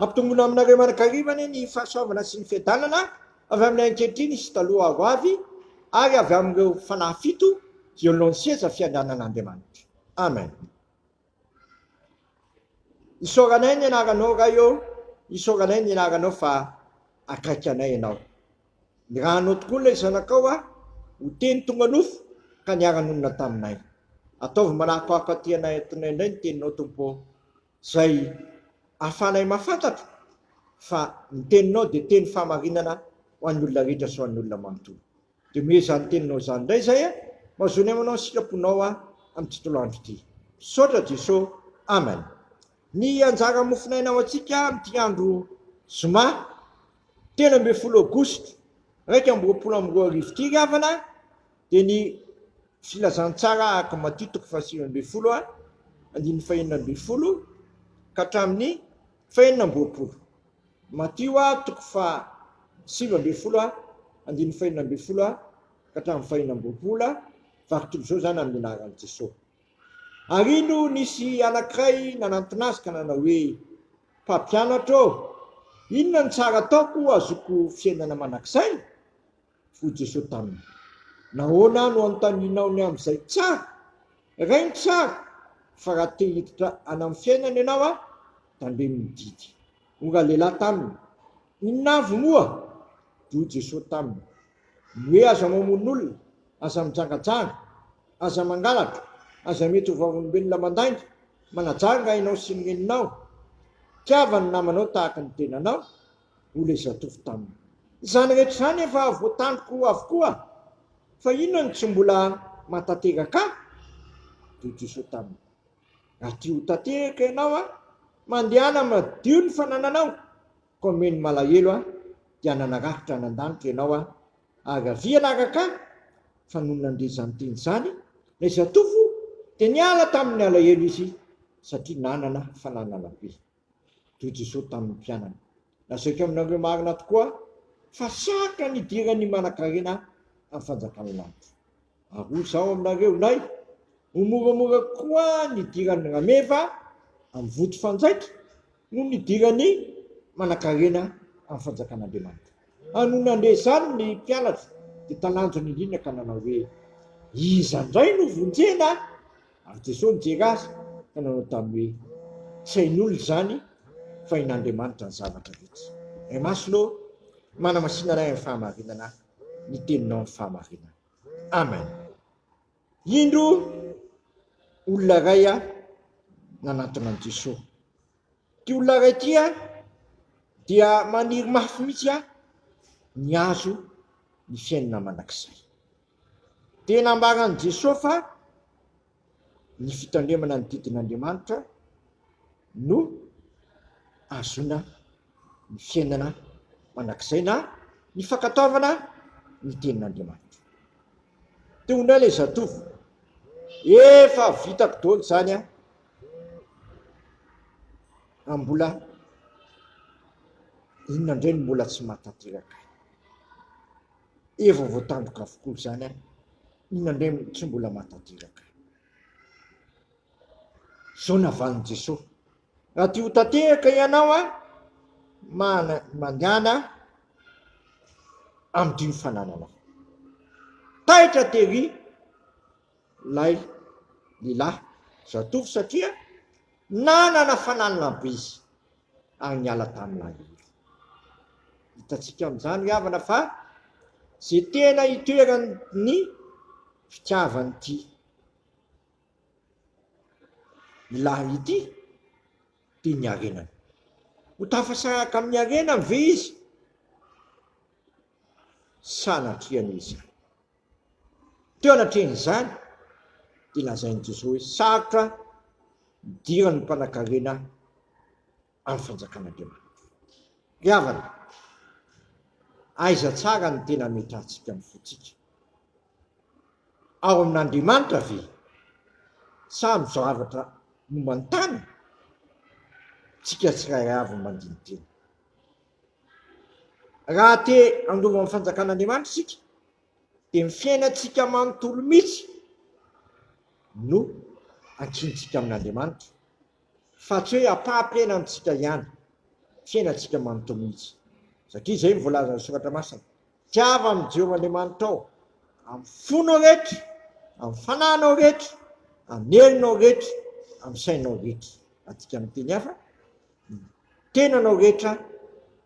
Ampitomboina aminareo mianakariva anie ny fahasoavana sy ny fiadanana avy amin'ny ankehitriny sy taloha ho avy ary avy amin'ireo fanahy fito eo alohan'ny seza fiandranan'Andriamanitra. Amen. Isaoranay ny anaranao Ray ô, isaoranay ny anaranao fa akaiky anay ianao. Ny rahanao tokoa ilay zanakao a! ho teny tonga nofo ka niara-nonina taminay. Ataovy manako hahafantianay antonay indray ny teninao Tompo ô! izay ahafahanay mahafantatra fa ny teninao dia teny fahamarinana ho an'ny olona rehetra sy ho an'ny olona manontolo. Dia omeo izany teninao izany indray izay a! Mazonia manao ny sitraponao aho amin'ny tontolo andro ity. Misaotra Jeso. Amen. Ny anjara mofonaina ho antsika amin'ity andro zoma telo ambin'ny folo aogositra iraika amby roapolo amby roa arivo ity ry havana dia ny filazantsara araka Matio toko fahasivy ambin'ny folo andininy fahenina ambin'ny folo ka hatramin'ny fahenina amby roapolo. Matio toko fahasivy ambin'ny folo andininy fahenina ambin'ny folo ka hatramin'ny fahenina amby roapolo, vary toy izao izany amin'ny anaran'i Jesoa. Ary ino nisy anankiray nanantona azy ka nanao hoe, Mpampianatra ô, inona no tsara ataoko hahazoako fiainana mandrakizay? Hoy Jesoa taminy, Nahoana no anontanianao ny amin'izay tsara? Raino tsara, fa raha te hiditra any amin'ny fiainana ianao an, tandremo ny didy. Hoy ralehilahy taminy, Inona avy moa? Dia hoy Jesoa taminy, Ny hoe aza mamono olona, aza mijangajanga, aza mangalatra, aza mety ho vavolombelona mandainga, manajanga ianao sy ny reninao, tiava ny namanao tahaka ny tenanao, hoy ilay zatovo taminy. Izany rehetra izany efa voatandriko avokoa fa inona no tsy mbola mahatanteraka ahy? Dia hoy Jesoa taminy, Raha tia ho tanteraka ianao, mandehana madio ny fanananao. Commune malahelo aho dia nanarafitra any an-danitra ianao aho ary avia anaraka ahy fa nony nandre izany teny izany ilay zatovo dia niala tamin'ny alahelo izy satria nanana fananana be toy Jesosy tamin'ny mpianany. Lazaiko aminareo marina tokoa fa sarotra ny hidiran'ny manan-karena amin'ny fanjakan'ny lanitra. Ary hoy izaho aminareo, Nay, ho moramora koa ny hidiran'ny rameva amin'ny votofanjaitra noho ny hidiran'ny manankarena amin'ny fanjakan'Andriamanitra. Ary nony nandeha izany ny mpianatra, dia talanjona indrindra ka nanao hoe, Iza indray no vonjena? Ary Jesosy nijery azy ka nanao taminy hoe, Tsy hain'olona izany, fa hain'Andriamanitra ny zavatra rehetra. Ray Masina ô, manamasina anay amin'ny fahamarinana ny Teninao ny fahamarinana. Amen. Indro olona iray a nanantona an'i Jesoa. Ty olona iray ty a dia maniry mafy mihitsy a ny azo ny fiainana mandrakizay. Dia nambaran'i Jesoa fa ny fitandremana ny didin'Andriamanitra no ahazoana ny fiainana mandrakizay na ny fankatoavana ny tenin'Andriamanitra. Teo indray ilay zatovo, efa vitako daholo izany a, raha mbola inona indray no mbola tsy mahatanteraka. Efa voatandroka avokoa izany an! Inona indray no tsy mbola mahatanteraka? Izao navalin'i Jesosy, Raha tia ho tanteraka ianao an, mandehana amin'ity fanananao. Taitra tery ilay lehilahy zatovo satria nanana fananana be izy. ary niala tamin'ny lahidy. Hitantsika amin'izany ry havana fa izay tena itoeran'ny fitiavan'ity ilahiny ity dia ny harenany. Ho tafasaraka amin'ny harenany ve izy? sanatria izany. Teo anatrehan'izany dia lazain'i Josué hoe sarotra ny idiran'ny mpanankarena amin'ny Fanjakan'Andriamanitra. Ry havana, aiza tsara no tena hametrahantsika ny fontsika? Ao amin'Andriamanitra ve sa amin'ny zavatra momba ny tany? Tsika tsirairay avy no mandini-tena. Raha te handova ny fanjakan'Andriamanitra isika dia ny fiainantsika manontolo mihitsy no ankintsika amin'Andriamanitra fa tsy hoe ampaham-piaina amintsika ihany, fiainantsika manontolo mihitsy satria izay no voalazan'ny soratra masina, tiava an'i Jehovah Andriamanitrao amin'ny fonao rehetra, amin'ny fananao rehetra, amin'ny herinao rehetra, amin'ny sainao rehetra, raha adika amin'ny teny hafa, ny tenanao rehetra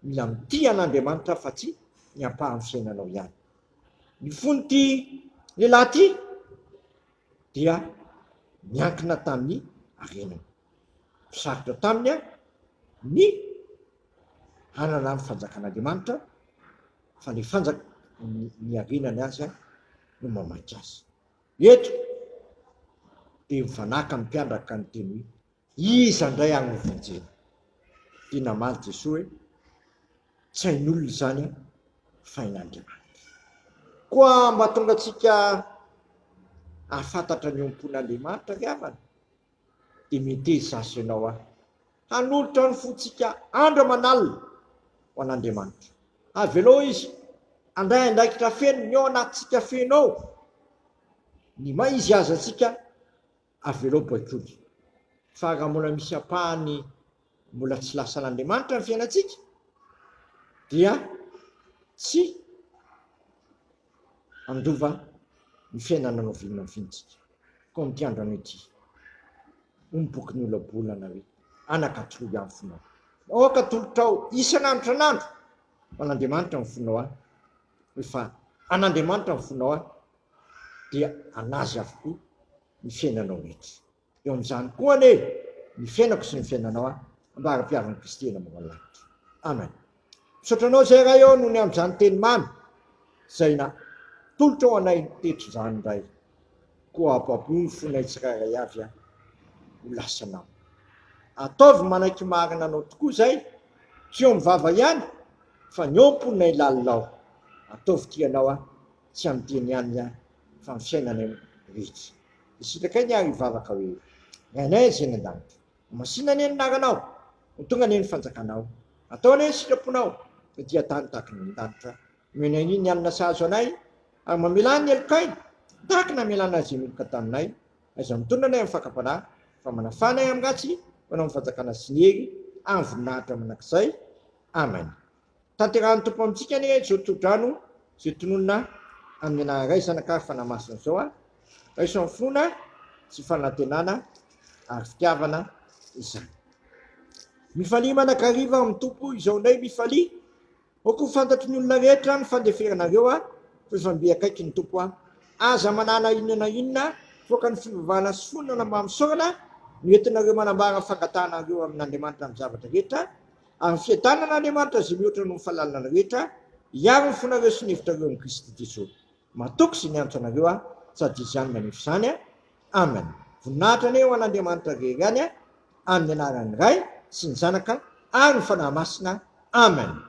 mila mitia an'Andriamanitra fa tsy ny ampahan'ny fiainanao ihany. Ny fon'ity lehilahy ity dia niankina tamin'ny harenany. Sarotra taminy ny hanana ny fanjakan'Andriamanitra fa ny fanjaka ny harenany azy no mamaika azy. Eto dia mifanaka ny mpiandraka ny teny hoe Iza ndray ary no vonjena? Dia namaly Jesoa hoe, Tsy hain'olona izany fa hain'Andriamanitra. Koa mba tonga antsika hahafantatra ny eo am-pon'Andriamanitra ry havana dia meteza azy ianao aho hanolotra ny fontsika andro aman'alina ho an'Andriamanitra. Avelao Izy handray andraikitra feno ny ao anatintsika feno ao, ny maha izy azy antsika. Avelao baiboly fa raha mbola misy ampahany mbola tsy lasan'Andriamanitra ny fiainantsika dia tsy andova ny fiainana novinona ny fiaintsika. Koa amin'ity androany ity, hoy ny bokin'ny ola-bolana hoe, Anaka, toroy aho ny fonao. Aoka atolotrao isan'andro isan'andro ho an'Andriamanitra ny fonao aho, hoe fa an'Andriamanitra ny fonao aho, dia an'Azy avokoa ny fiainanao rehetra. Eo amin'izany koa anie ny fiainako sy ny fiainanao an, ambara-piarin'i Kristy eny ambony lanitra. Amen. Misaotra Anao Zay Ray ô, noho ny amin'izany teny mamy izay natolotrao anay teto izany Ray. Koa apaboho ny fonay tsirairay avy an, ho lasa Anao. Ataovy manaiky marina Anao tokoa izay, tsy eo amin'ny vava ihany, fa ny eo am-ponay lalina ao. Ataovy tia Anao an, tsy amin'ny teny ihany ihany fa amin'ny fiainana rehetra. Dia sitrakay ny ahy hivavaka hoe, Ray anay Zay any an-danitra, homasinina anie ny anaranao, ho tonga anie ny fanjakanao, atao anie ny sitraponao taty an-tany tahaka ny any an-danitra, omeny anie ny hanina sahazo anay, ary mamelà ny helokay tahaka ny hamelàna izay meloka taminay, aiza mitondra anay amin'ny fakam-panahy, fa manafà anay amin'ny ratsy ho anao ny fanjakana sy ny hery ary ny voninahitra mandrakizay. Amen. Tanterahan'ny Tompo amintsika anie izao tsodrano izay tononina amin'ny anaran'ny Ray, Zanaka ary Fanahy Masina izao a! Raiso amin'ny finoana sy fanantenana ary fitiavana izany. Mifalia manakariva amin'ny Tompo izao indray, mifalia! Aoka ho fantatry ny olona rehetra ny fandeferanareo a! Fa efa mby akaiky ny Tompo a! Aza manana inona na inona voaka ny fivavahana sy fonona na mba misaorana no entinareo manambara ny fangatahanareo amin'Andriamanitra amin'ny zavatra rehetra Ary fiadanana Andriamanitra izay mihoatra noho ny fahalalana rehetra hiaro ny fonareo sy ny hevitrareo amin'i Kristy Jeso. Matoky izay mianatra anareo aho, sady Izy ihany manefa izany. Amen. Voninahitra anie ho an'Andriamanitra rery any, amin'ny anaran'ny Ray sy ny Zanaka ary ny Fanahy Masina. Amen.